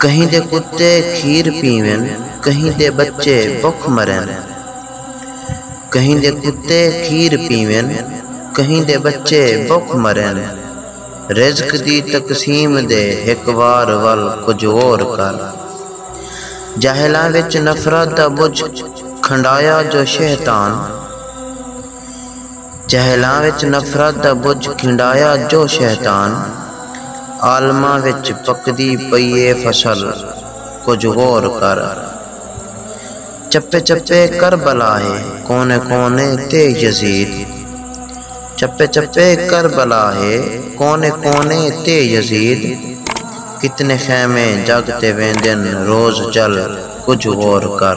کہیں دے کتے کھیر پیون کہیں دے بچے بکھ مرن کہیں دے کتے کھیر پیون کہیں دے بچے بکھ مرن رزق دی تقسیم دے ہک وار ول کجھ غور کر جاہلاں وچ نفرت دا بجھ کھنڈایا جو شہطان۔ جاہلاں وچ نفرت دا ٻجھ کھنڈایا جو شیطان۔ عالماں وچ پکدی پئی اے فصل کجھ غور کر۔ چپے چپے کربلا ہے کونے کونے تے یزید۔ چپے چپے کربلا ہے کونے کونے تے یزید۔ کتنے خیمے جگ تے ویندن روز جل کجھ غور کر۔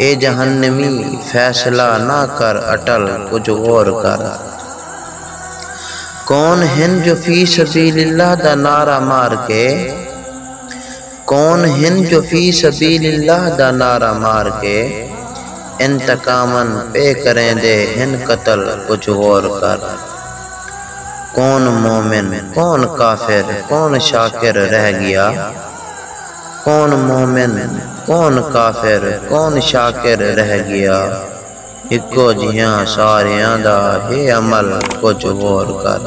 اے جہنمی فیصلہ نہ کر اٹل کجھ غور کر کون ہن جو فی سبیل اللہ دا نعرہ مار کے کون ہن جو فی سبیل اللہ دا نعرہ مار کے انتقامن پے کریندے ہن قتل کجھ غور کر کون مومن کون کافر کون شاکر رہ گیا۔ کون مومن کون کافر کون شاکر رہ گیا ہکو جیہاں ساریاں دا ہے عمل کجھ غور کر۔